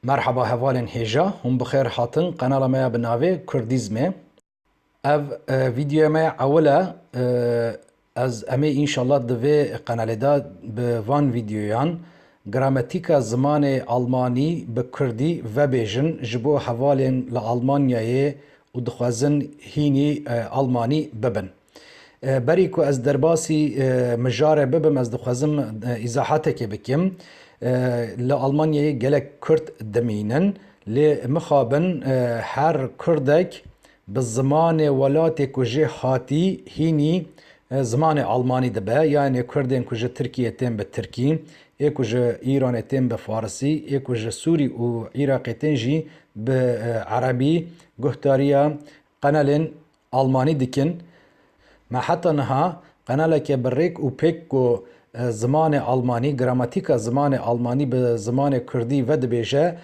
Merhaba hevalên hêja, hûn bi xêr hatin qenala me ya bi navê Kurdîzmê. Ev vîdyoya me ya ewil e, ez em ê înşallah di vê qenalê de bi van vîdyoyan grametîka zimanê almanî bi kurdî vebêjin ji bo hevalên li Almanyayê û dixwezin hînî almanî bibin. Berî ku ez derbasî mijare bibim ez dixwezim îzahatekê bikim. Li Almanyayê gelek Kurd dimînin. Lê mixabin her Kurdek bi zimanê welatê ku jê hatî hînî zimanê Almanî dibe. Yanê Kurdên ku ji Tirkiyê tên bi Tirkî, ê ku ji Îranê tên bi Farisî, ê ku ji Sûrî û Iraqê tên jî bi Erebî guhdarîya qenelên Almanî dikin. Me heta niha qenaleke bi rêk û pêk ku zimanê almanî, gramatîka zimanê almanî bi zimanê kurdî vedibêje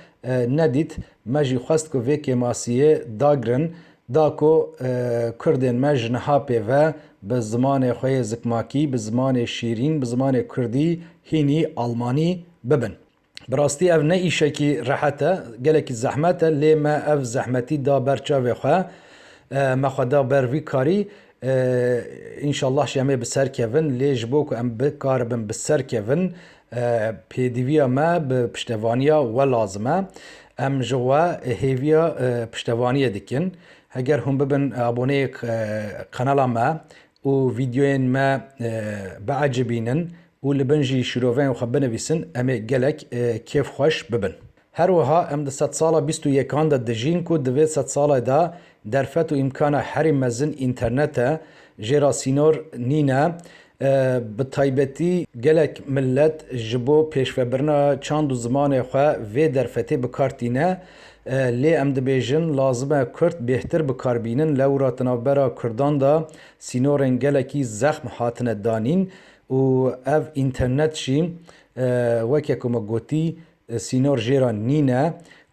nedît. Me jî xwest ku vê kêmasiyê dagirin da ku kurdên me ji niha pêve bi zimanê xwe yê zikmakî, bi zimanê şîrîn, bi zimanê kurdî hînî almanî bibin. Bi rastî ev ne îşekî rehet e, gelekî zehmet e lê me ev zehmetî da ber çavê xwe, me xwe da ber vî karî. Înşallah jî em ê bi ser kevin lê ji bo ku em bikaribin bi ser kevin pêdivîya me bi piştevanîya we lazim e. Em ji we hêvîya piştevanîyê dikin. Heger hûn bibin aboneyê kanala me û vîdyoyên me biecibînin Û li bin jî şîroveyên xwe binivîsin em ê gelek kêfxweş bibin. Her wiha em di sedsala bîst û yekan de dijîn ku di vê sedsalê de derfet û îmkana herî mezin înternet e, jêrasînor nîne. Bi taybetî gelek milet ji bo pêşvebirina çand û zimanê xwe vê derfetê bi kar tîne. Lê em dibêjin lazim e kurd bêhtir bi kar bînin. Lewra di navbera kurdan de sînorên gelekî zexm hatine danîn Û ev înternet jî weke ku me gotî sînor jê re nîne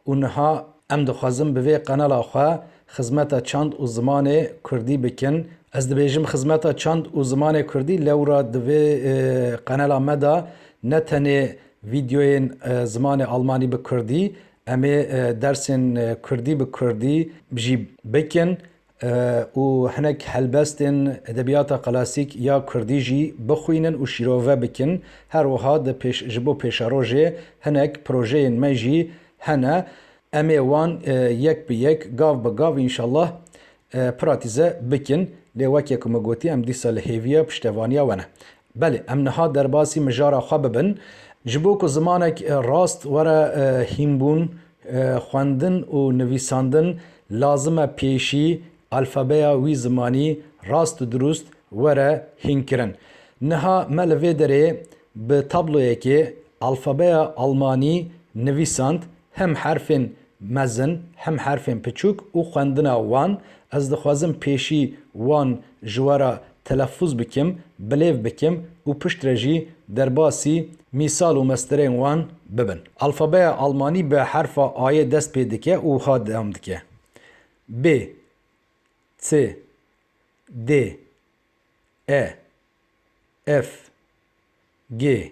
û niha em dixwazin bi vê qenala xwe xizmeta çand û zimanê kurdî bikin. Ez dibêjim xizmeta çand û zimanê kurdî lewra di vê qenela me de ne tenê vîdyoyên zimanê almanî bi kurdî, em ê dersên kurdî bi kurdî jî bikin û hinek helbestên edebiyata klasîk ya kurdî jî bixwînin û şîrove bikin. Her wiha di pêş ji bo pêşerojê hinek projeyên me jî hene. Em ê wan yek bi yek, gav bi gav înşallah pratîze bikin. Lê weke ku min gotî em dîsa li hêviya piştevaniya we ne. Belê, em niha derbasî mijara xwe bibin. Ji bo ku zimanek rast were hînbûn, xwendin û nivîsandin lazim e pêşî alfabeya wî zimanî rast û dirûst were hînkirin. Niha me li vê derê bi tabloyekê alfabeya almanî nivîsand Hem herfên mezin hem herfên piçûk û xwendina wan, ez dixwazim pêşî wan ji we re telefûz bikim, bilêv bikim û piştre jî derbasî mîsal û mestirên wan bibin. Alfabeya almanî bi herfa Ayê dest pê dike û wiha dewam dike, B, C, D, E, F, G,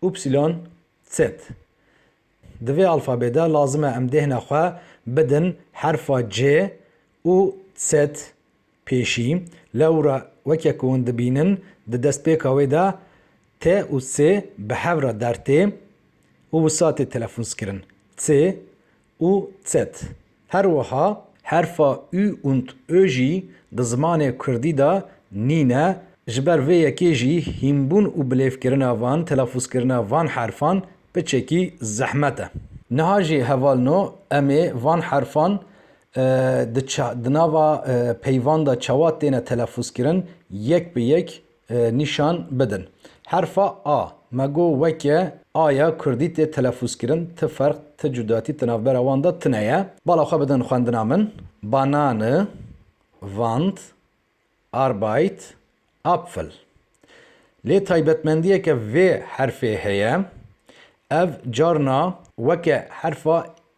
Upsilon Zet Di vê alfabê de lazim e em dêhna xwe bidin herfa cê û zet pêşî. Lewra weke ku hûn dibînin di destpêka wê de tê û sê bi hev re der tê û wisa tê telefonskirin. Tê û z. Her wiha herfa ü und ö jî di zimanê kurdî de nîne, ji ber vê yekê jî hînbûn û bilêvkirina van, telafûzkirina van herfan piçekî zehmet e. Niha jî heval no em ê van herfan di nava peyvan de çawa têne telafûzkirin yek bi yek nîşan bidin. Herfa a, me got weke a ya kurdî tê telefûzkirin, ti ferq, ti cudatî di navbera wan de tune ye. Bala xwe bidin xwendina min, Banane, Wand, Arbeit, Apfel. Lê taybetmendiyeke vê herfê heye, ev carna weke herfa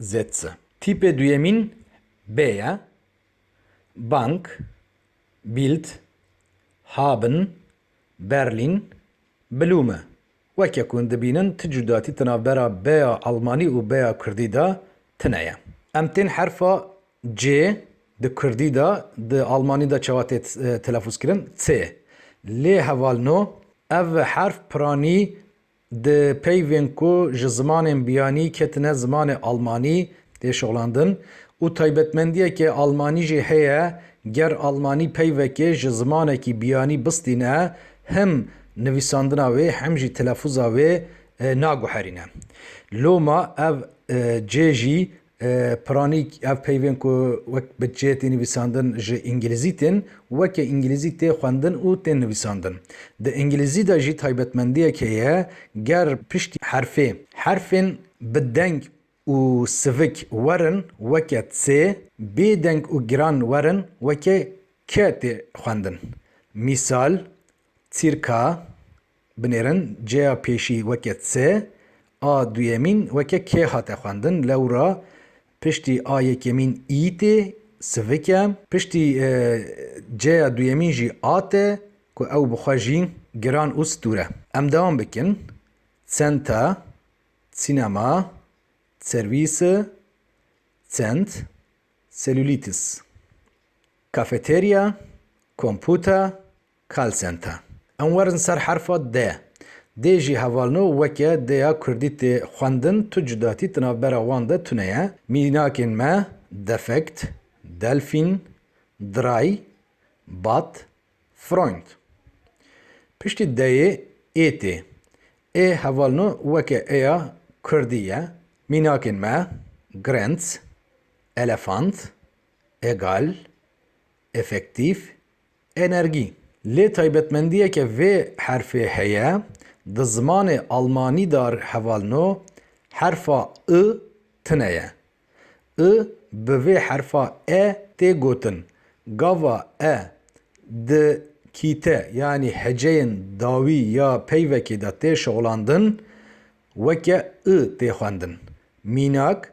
ZC. Tîpê duyemîn B ye, Bank, Bild, Haben, Berlin, Blume. Weke ku hûn dibînin ti cudatî di navbera B'ya Elmanî û B'ya Kurdî de tine ye. Em tên herfa C di Kurdî de, di Elmanî de çawa tê telefûzkirin? C. Lê heval no, ev herf piranî Di peyvên ku ji zimanên biyanî ketine zimanê almanî tê şoxlandin û taybetmendiyeke almanî jî heye, ger almanî peyvekê ji zimanekî biyanî bistîne him nivîsandina wê him jî telefûza wê naguherîne. Loma ev cê jî Pranîk, ev peyvên ku wek bi çê tê nivîsandin ji îngilîzî tên weke îngilîzî tê xwendin û tên nivîsandin. Di îngilîzî de jî taybetmendiyek heye ger piştî herfê herfên bi deng û sivik werin weke C, bê deng û giran werin weke K tê xwendin. Mîsal, Çîrka. Binêrin, cêya pêşî weke C, a duyemîn weke K hate xwendin, lewra piştî a yekemîn î tê, sivik e. Piştî cêya duyemîn jî a tê ku ew bi xwe jî giran û stûr e. Em dewam bikin, Centa, cinema, service, cent, cellulitis, cafeteria, computer, Call center. Em werin ser herfa D. Dê jî hevalno weke D ya kurdî tê xwendin, tu cudatî di navbera wan de tune ye. Mînakên me, defekt, delfîn, diray, bat, Freund. Piştî D-yê ê tê. Ê hevalno weke ê ya kurdî ye. Mînakên me, Grenz, elefant, egal, efektif, Energie, lê taybetmendiyeke vê herfê heye, di zimanê almanî de re hevalno, herfa ı tine ye. I bi vê herfa e tê gotin. Gava e di kîte yanî heceyên dawî ya peyvekê de tê şixulandin, weke ı tê xwendin. Mînak,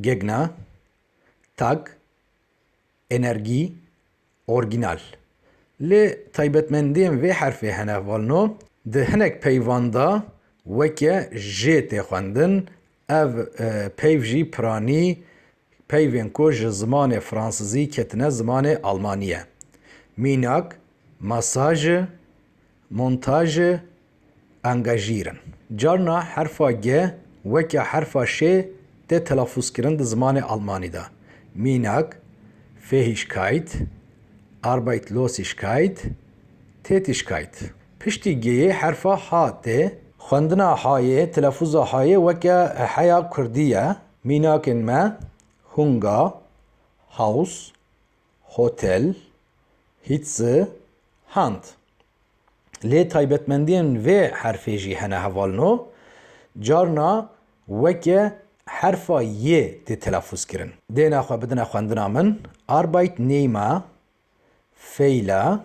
Gegna, tag, energî, orgînal. Lê taybetmendiyên vê herfê hene valno di hinek peyvan de weke jê tê xwendin, ev peyv jî piranî peyvên ku ji zimanê fransizî ketine zimanê almanî ye. Mînak, masaje, montaje. engajîr in. Carna herfa ge weke herfa şê tê telafûzkirin di zimanê almanî de, mînak, Fähigkeit, Arbeitslosigkeit, Tätigkeit. Piştî geyê herfa ha tê. Xwendina hayê, telafûza hayê weke heya kurdî ye, mînakên me, Hunga, Haus, Hotel, Hitze, Hand. Lê taybetmendiyên vê herfê jî hene heval no, carna weke herfa y tê telafûz kirin. Dêne xwe bidine xwendina min, Arbeit nehme, feyla.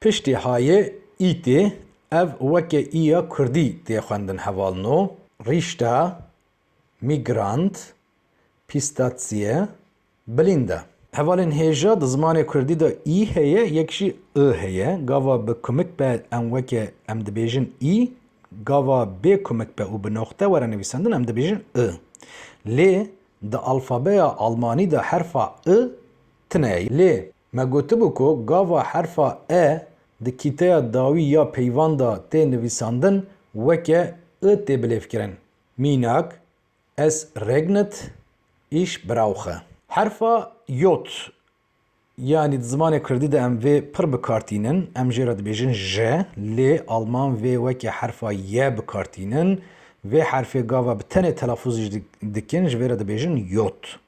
Piştî hayê îtê ev weke îya kurdî tê xwendin hevalno, rîşta, mîgrant, pîstatsiye, bilînda. Hevalên hêja di zimanê kurdî de î heye yek jî i heye. Gava bi kumik be em weke em dibêjin î, gava bê kumik be û bi noxte were nivîsendin em dibêjin i. Lê di alfabeya almanî de herfa i tune ye. Lê Me gotibû ku gava herfa e di kîteya dawî ya peyvan de tê nivîsandin weke i tê bilêvkirin, mînak, Es regnet, ich brauche. Herfa J yanî di zimanê kurdî de em vê pir bi kar tînin, em jê re dibêjin je, lê alman vê weke herfa ye bi kar tînin. Vê herfê gava bi tenê telafûz jî dikin, ji vê re dibêjin Jod.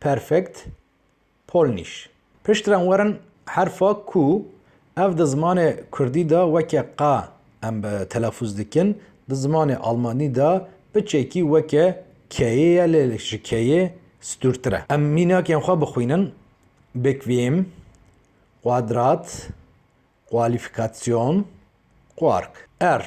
Perfekt, Polnîş. Piştre werin herfa ku ev di zimanê kurdî de weke qa em telafûz dikin, di zimanê almanî de bi çekî weke keyê ye lê ji keyê stûrtir e. Em mînakên xwe bixwînin, bequem, quadrat, qualîfîkasyon, quark. Er,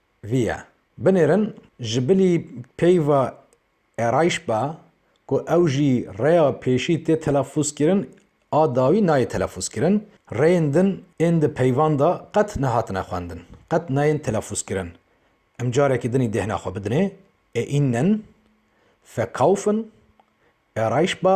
vî ye. Binêrin ji bilî peyva êrayîş be ku ew jî rêya pêşî tê telafûzkirin a dawî nayê telafûzkirin. Rêyên din ên di peyvan de qet nehatine xwendin, qet nayên telafûzkirin. Em carekî dinî dêhna xwe bidinê, ê înnen, verkaufen, êrayîş be,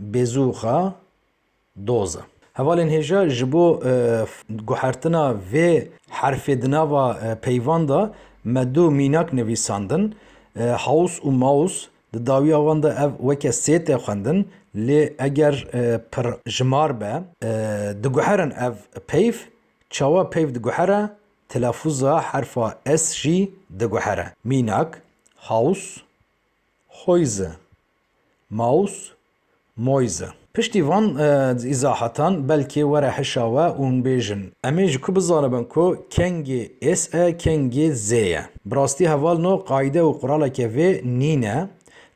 Bêzûxa doz e. Hevalên hêja ji bo guhertina vê herfê di nava peyvan de me du mînak nivîsandin, Haus û Maus. Di dawiya wan de ev weke sê tê xwendin lê eger pirjimar be diguherin ev peyv. Çawa peyv diguhere? Telafûza herfa S jî diguhere. Mînak, Haus, Häuse. mouse, moise. Piştî van îzahatan belkê were hişa we û hûn bêjin em ê ji ku bizanibin ku kengê ês e kengê zê ye. Bi rastî heval no qayde û quraleke vê nîne,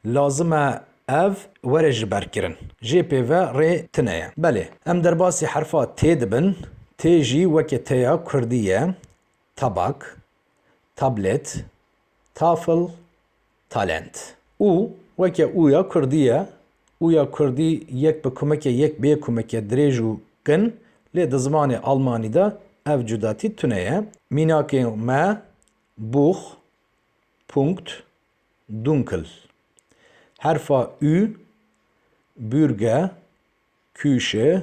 lazim e ev were ji ber kirin. Jê pê ve rê tine ye. Belê em derbasî herfa t dibin, t jî weke t ya kurdî ye, tabak, tablet, tafl, Talent. Û weke û ya kurdî ye, û ya kurdî yek bi kumeke yek bê kumeke dirêj û kin, lê di zimanê almanî de ev cudatî tune ye. Mînakên me, Buch, Punkt, Dunkel. Herfa ü, Bürge, Küche,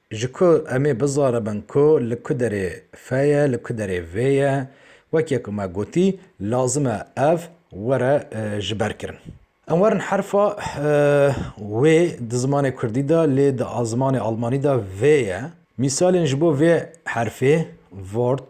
Ji ku em ê bizanibin ku li ku derê fe ye, li ku derê vê ye, wekî ku me gotî, lazim e ev were ji ber kirin. Em werin herfa wê di zimanê kurdî de lê di zimanê almanî de vê ye. Mîsalên ji bo vê herfê, Wort,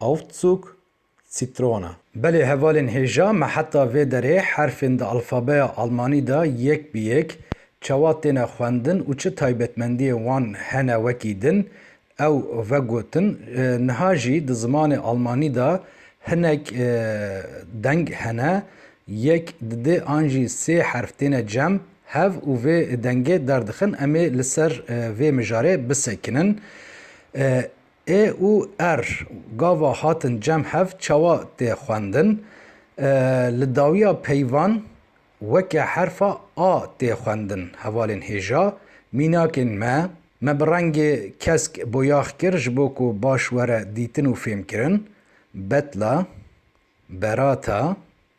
Aufzug, Zitrone. Belê hevalên hêja me heta vê derê herfên di alfabeya almanî de yek bi yek çawa têne xwendin û çi taybetmendiyên wan hene wekî din ew vegotin, niha jî di zimanê almanî de hinek deng hene yek di dê an jî sê herf têne cem hev û vê dengê derdixin, em ê li ser vê mijarê bisekinin. E û R gava hatin cem hev çawa tê xwendin? Li dawiya peyvan weke herfa A tê xwendin, hevalên hêja, mînakên me, me bi rengê kesk boyax kir ji bo ku baş were dîtin û fêmkirin, betla, berata,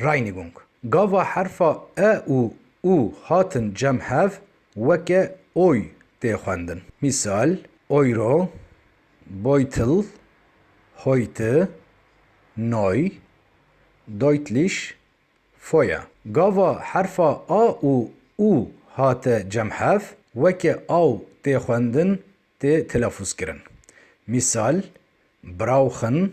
Reinigung, Gava herfa e û u hatin cem hev weke oy tê xwendin. Mîsal, Euro, Beutel, heute, neu, deutlich, Feuer. Gava herfa a û u hate cem hev weke aw tê xwendin tê telafûzkirin. Mîsal, brauchen,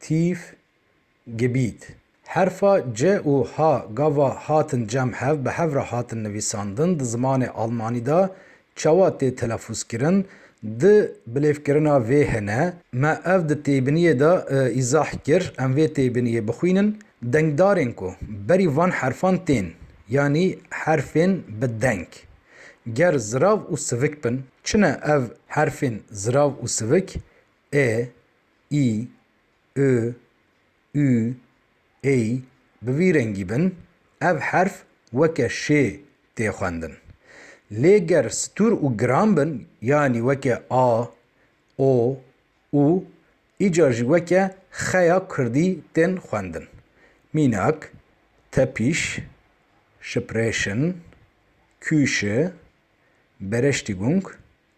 Tîf, Gibît, Herfa ci û ha gava hatin cem hev bi hev re hatin nivîsandin di zimanê almanî de çawa tê telefûzkirin di bilêvkirina vê hene me ev di têbiniyê de îzah kir em vê têbiniyê bixwînin dengdarên ku berî van herfan tên yanî herfên bi deng ger zirav û sivik bin çi ne ev herfên zirav û sivik ê i, i, ü, ey bi vî rengî bin ev herf weke şê tê xwendin. Lê ger stûr û giran bin yanî weke a, o, û îcar jî weke xe ya kurdî tên xwendin. Mînak, tepîş, şiprêşin, kûşi, bereştîgung,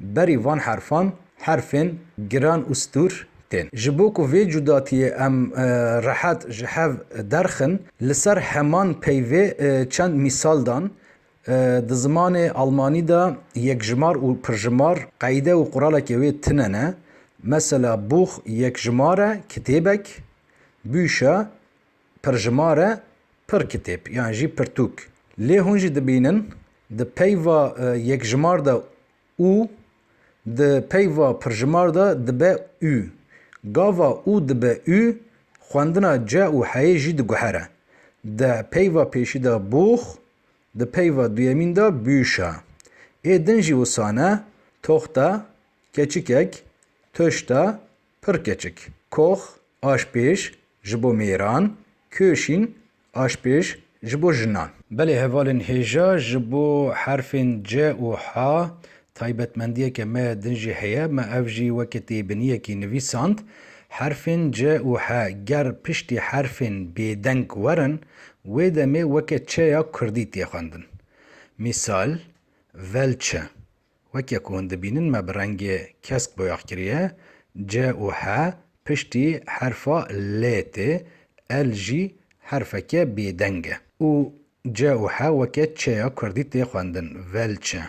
Berî van herfan, herfên giran û stûr tên. Ji bo ku vê cudatiyê em rehet ji hev derxin, li ser heman peyvê çend mîsal dan, Di zimanê almanî de yekjimar û pirjimar qeyde û quraleke wê tine ne. Mesela, Buch yekjimar e, kitêbek, Bücher, pirjimare pir kitêb yan jî pirtûk. Lê hûn jî dibînin di peyva yekjimar de û, di peyva pirjimar de dibe û. Gava û dibe û xwendina ce û heyê jî diguhere. Di peyva pêşî de bûx, di peyva duyemîn de bûşa. Ê din jî wisane, toxte, keçikek, tuşte, Pir keçik, kox, aşpêj, ji bo mêran, kûşîn, aşpêj, ji bo jinan. Belê hevalên hêja ji bo herfên ce û ha taybetmendiyeke me din jî heye, me ev jî weke têbiniyekî nivîsand. Herfên ce û he ger piştî herfên bêdeng werin, wê demê weke çeya kurdî tê xwendin. Mîsal, velçe, Weke ku hûn dibînin me bi rengê kesk boyax kiriye, C û H piştî herfa Lê tê, L jî herfeke bêdeng e û C û H weke Ç'ya kurdî tê xwendin, Velçe.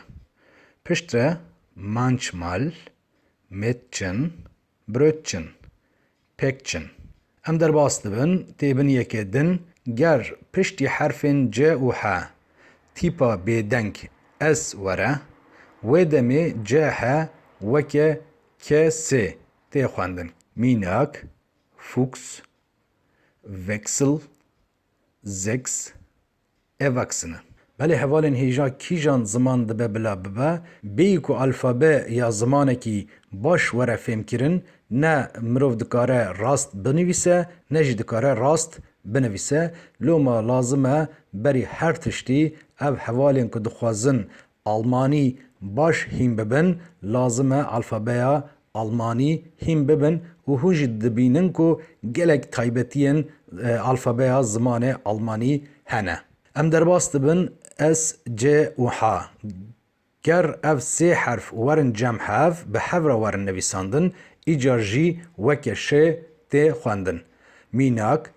Piştre Mançmal, Mêtçin, Brötchen, Päckchen. Em derbas dibin tê bin yekê din ger piştî herfên ce û he tîpa bêdeng es were, wê demê ce he weke ke sê tê xwendin, mînak, Fuchs, Wechsel, Sechs, Ev vaksîn e. Belê hevalên hêja kîjan ziman dibe bila bibe, bêyî ku alfabe ya zimanekî baş were fêmkirin, ne mirov dikare rast binivîse, ne jî dikare rast binivîse. Loma lazim e berî her tiştî ev hevalên ku dixwazin Almanî baş hîn bibin, lazim e alfabeya almanî hîn bibin û hûn jî dibînin ku gelek taybetiyên alfabeya zimanê almanî hene. Em derbas dibin S, C û H. Ger ev sê herf werin cem hev, bi hev re werin nivîsandin, îcar jî weke şê tê xwendin. Mînak,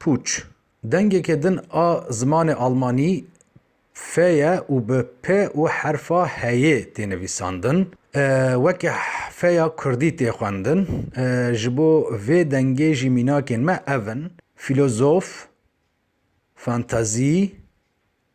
Pûç, dengekê din a zimanê almanî fe ye û bi pe û herfa heyê tê nivîsandin. Weke feya kurdî tê xwendin. Ji bo vê dengê jî mînakên me ev in, filozof, fantazî,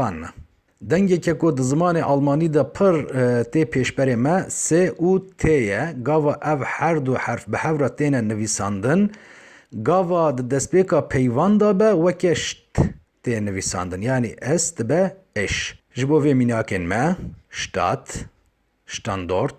Fanne. Dengeke ku di zimanê almanî de pir tê pêşberê me S û T ye, gava ev her du herf bi hev re têne nivîsandin. Gava di destpêka peyvan de be weke st tê nivîsandin, yanî S dibe êş. Ji bo vê mînakên me, Stadt, Standort,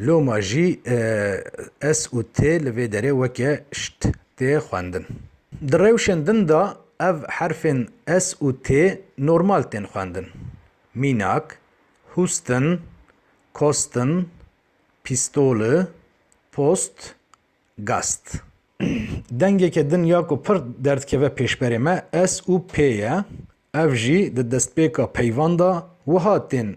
Loma jî S û T li vê derê weke şt tê xwendin. Di rewşên din de ev herfên S û T normal tên xwendin. Mînak, Hûstin, Kostin, Pîstoli, Post, Gast. Dengeke din ya ku pir derdikeve pêşberê me S û P ye. Ev jî di destpêka peyvan de wiha tên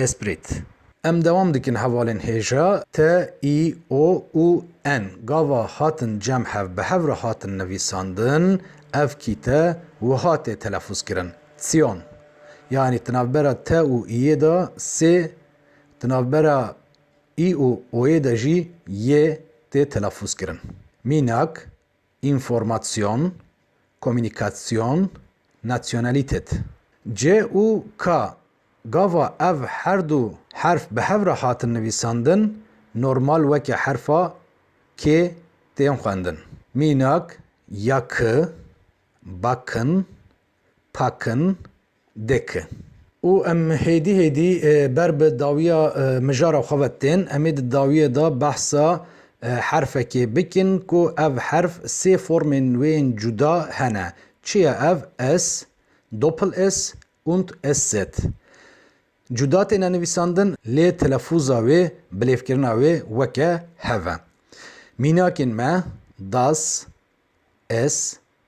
Esprit. Em dewam dikin hevalên hêja T, I, O û N. Gava hatin cem hev bi hev re hatin nivîsandin, ev kîte wiha tê telefûz kirin, Tsiyon. Yanî di navbera T û Iyê de sê, di navbera I û Oyê de jî yê tê telefûz kirin. Mînak. Înformasyon, komûnîkasyon, nasyonalîtet. Cê û ka, gava ev her du herf bi hev re hatin nivîsandin, normal weke herfa kê tên xwendin. Mînak, ya ki, bakin, pakin, Dik. Û em hêdî hêdî ber bi dawiya mijara xwe ve tên, em ê di dawiyê de behsa herfekê bikin ku ev herf sê formên wê yên cuda hene. Çi ye ev? S, Doppel-S und SZ. Cuda têne nivîsandin lê telefûza wê, bilêvkirina wê weke hev e. Mînakên me, Das, es,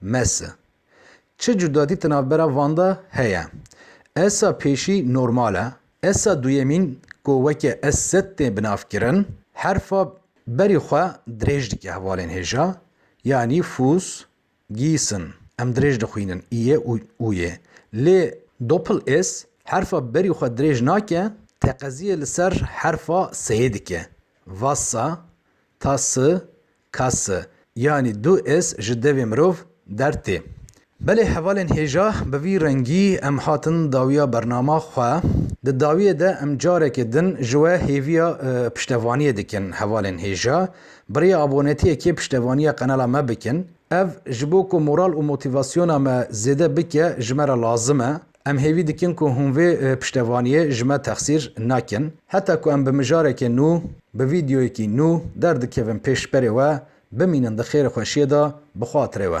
Messe. Çi cudadî ti navbera van de heye? Essa pêşî normal e. Essa duyemîn ku weke ess tê binavkirin, herfa berî xwe dirêj dike hevalên hêja, yanî Fuss, Gießen. Em dirêj dixwînin îyê û ûyê. Lê Doppel-ess herfa berî xwe dirêj nake, teqeziyê li ser herfa seyê dike. Wasser, Tasse, Kas, yanî du ês ji devê mirov der tê. Belê hevalên hêja bi vî rengî em hatin dawiya bernama xwe. Di dawiyê de em carekê din ji we hêviya piştevaniyê dikin hevalên hêja bi rêya abonetiyekê piştevaniya qenala me bikin. Ev ji bo ku moral û motivasyona me zêde bike ji me re lazim e. Em hêvî dikin ku hûn vê piştevaniyê ji me texsîr nekin. Heta ku em bi mijarekê nû, bi vîdeoyekî nû derdikevin pêş berê we, bimînin di xêrxweşiyê de bi xatirê we.